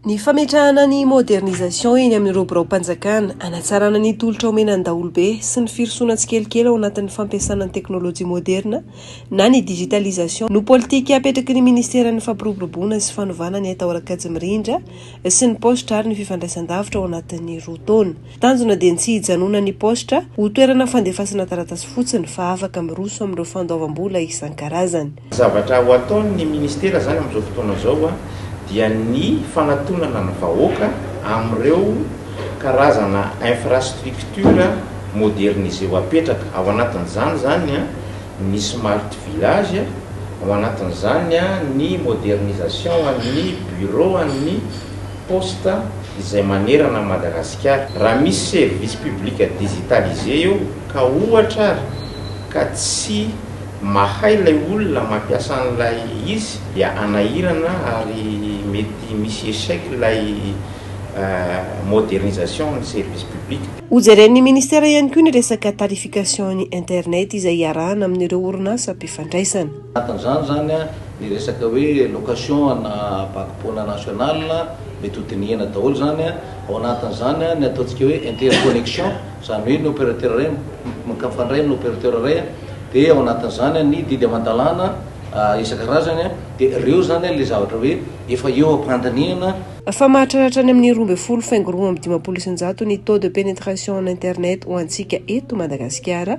Ny fametrahana ny modernisation eny amin'ireo biraom-panjakana, hanatsarana ny tolotra omena ny daholobe sy ny firosoana tsikelikely ao anatin'ny fampiasana ny teknolojia moderina na ny digitalisation no politika apetraky ny Minisiteran'ny Fampiroboroboana sy Fanovana ny haitao ara-kajy mirindra sy ny paositra ary ny fifandraisandavitra ao anatin'ny roa taona Tanjona dia ny tsy hijanonan'ny paositra ho toerana fandefasana taratasy fotsiny fa afaka miroso amin'ireo fandoavam-bola isan-karazany. Zavatra ho ataon'ny Ministera izany amin'izao fotoana izao dia ny fanatonana ny vahoaka amin'ireo karazana infrastructure modernisé ho apetraka. Ao anatin'izany izany ny smart village, ao anatin'izany ny modernisation an'ny bureau an'ny. poste izay manerana an'i Madagasikara. Raha misy service public digitalisé eo ka ohatra ary ka tsy mahay ilay olona mampiasa an'ilay izy dia hanahirana ary mety misy échec ilay modernisation an'ny service public. Hojeren'ny Ministera ihany koa ny resaka tarification-n'ny internet izay iarahana amin'ireo orinasa mpifandraisana. Anatin'izany izany ny resaka hoe location ana bag-poana national, mety ho dinihina daholo izany. Ao anatin'izany ny ataontsika hoe interconnection, izany hoe ny opérateur iray mikafandray amin'ny opérateur iray, dia ao anatin'izany ny didy aman-dalàna isan-karazany. Dia ireo izany ilay zavatra hoe efa eo am-pandinihana. Fa mahatraratra any amin'ny roa ambin'ny folo faingo roa amby dimampolo isan-jato ny taux de pénétration en internet ho antsika eto Madagasikara,